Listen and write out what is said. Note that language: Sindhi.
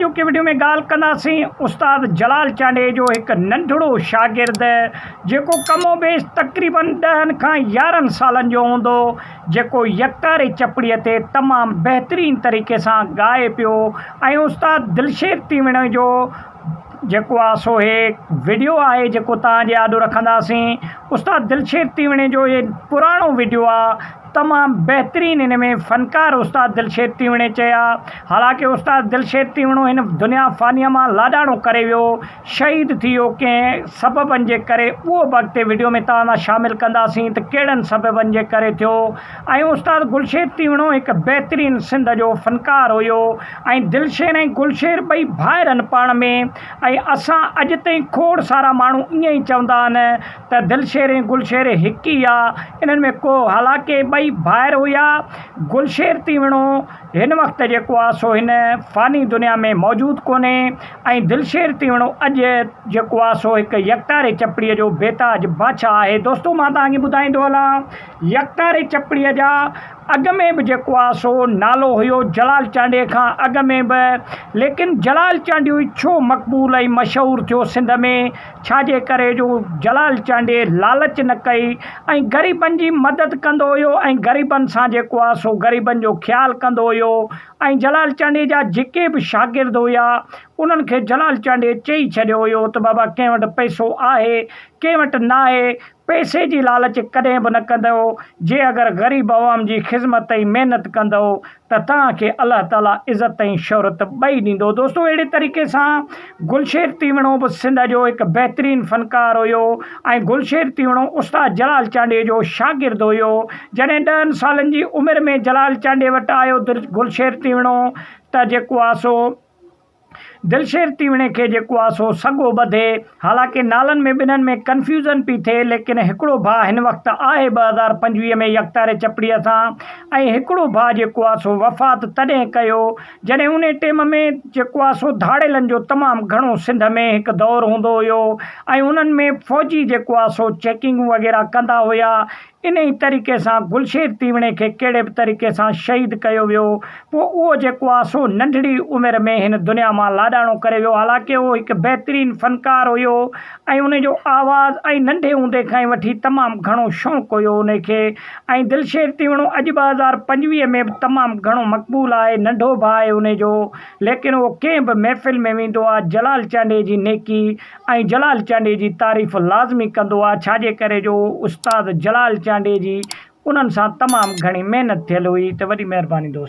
اڄوڪي وڊيو ۾ ڳالهه ڪنداسين استاد جلال چانڊئي جو هڪ ننڍڙو شاگرد جيڪو ڪم و بيش تقريباً ڏهن کان يارهن سالن جو هوندو جيڪو يڪتاري چپڙي تي تمام بهترين طريقي سان ڳائي پيو ۽ استاد دلشير تيوڻي جو جيڪو آ سو هي وڊيو آهي جيڪو توهان جي آڏو رکنداسين استاد دلشير تيوڻي جو هي پراڻو وڊيو آ تمام بهترين ان ۾ فنڪار استاد دلشير تيوڻي چيا حالانڪه استاد دلشير تيوڻو هن دنيا فانيه مان لاڏاڻو ڪري ويو شهيد ٿي ويو ڪنهن سببن جي ڪري اهو به اڳتي وڊيو ۾ توهان سان شامل ڪنداسين ته ڪهڙن سببن جي ڪري ٿيو ۽ استاد گلشير تيوڻو هڪ بهترين سنڌ جو فنڪار هيو ۽ دلشير ۽ گلشير ٻئي ڀائر هن پاڻ ۾ ۽ اسان اڄ تائين کوڙ سارا ماڻهو ائين ئي چوندا آهن ته دلشير ۽ گلشير هڪ ئي آ، انهن ۾ ڪو حالانڪه ٻئي ڀائر هيا. گلشير تيوڻو هن وقت جيڪو آ سو هن فاني دنيا ۾ موجود ڪونهي ۽ دلشير تيوڻو اڄ جيڪو آ سو هڪ يڪتاري چپڙي جو بيتاج بادشاهه آهي. دوستو مان توهان کي ٻڌائيندو هلان يڪتاري چپڙي جا اڳ ۾ به جيڪو آ سو نالو هيو جلال چانڊيي کان اڳ ۾ به ليڪن جلال چانڊيوئي ڇو مقبول ۽ مشهور ٿيو سنڌ ۾ ڇا جي ڪري جو جلال چانڊيي لالچ نه ڪئي ۽ غريبن جي مدد ڪندو هيو ۽ غريبن سان جيڪو آ سو غريبن جو خيال ڪندو هيو ۽ جلال چانڊيي جا جيڪي به شاگرد هيا انهن کي جلال چانڊيي چئي ڇڏيو هيو ته بابا ڪنهن وٽ پئسو آهي ڪنهن وٽ ناهي پئسي جي لالچ ڪڏهن به نه ڪندؤ، جي اگر غريب عوام جي خذمت ۽ محنت ڪندؤ ته توهان کي الله تعالي عزت ۽ شهرت ٻئي ڏيندو. دوستو اهڙي طريقي سان گلشير تيوڻو به سنڌ جو هڪ بهترين فنڪار هيو ۽ گلشير تيوڻو استاد جلال چانڊيي جو شاگرد هيو. جڏهن ڏهن سالن جي عمر ۾ جلال چانڊيي وٽ آيو گلشير تيوڻو ته جيڪو آ سو. دلشير تيوڻي کي جيڪو آ سو سگهو ٻڌي. حالانڪه نالن ۾ ٻنهن ۾ ڪنفيوزن پي ٿئي ليڪن هڪڙو ڀاء هن وقت آهي ٻه هزار پنجويهه ۾ يڪتاري چپڙيء سان ۽ هڪڙو ڀاء جيڪو آ سو وفات تڏهن ڪيو جڏهن انهي ٽيم ۾ جيڪو آ سو ڌاڙيلن جو تمام گهڻو سنڌ ۾ هڪ دور هوندو هيو ۽ انهن ۾ فوجي جيڪو آ سو چيڪنگون وغيره ڪندا هيا انهيء طريقي سان گلشير تيوڻي کي ڪهڙي به طريقي سان شهيد ڪيو ويو. پوء اهو جيڪو آ سو ننڍڙي عمر ۾ هن دنيا مان لاڏاڻو ڪري ويو. حالانڪه اهو هڪ بهترين فنڪار هيو ۽ انهي جو آواز ۽ ننڍي هوندي کان ئي وٺي تمام گهڻو شوق هيو انهي کي ۽ دلشير تيوڻو اڄ ٻه هزار پنجويهه ۾ به تمام گهڻو مقبول آهي. ننڍو ڀاء آهي انهي جو ليڪن اهو ڪنهن به محفل ۾ ويندو آ جلال چانڊيي جي نيڪي ۽ جلال چانڊيي جي تعريف لازمي ڪندو آ ڇاجي ڪري جو استاد جلال چانڊيي جي انهن سان تمام گهڻي محنت ٿيل هئي ته وڏي مهرباني دوستو.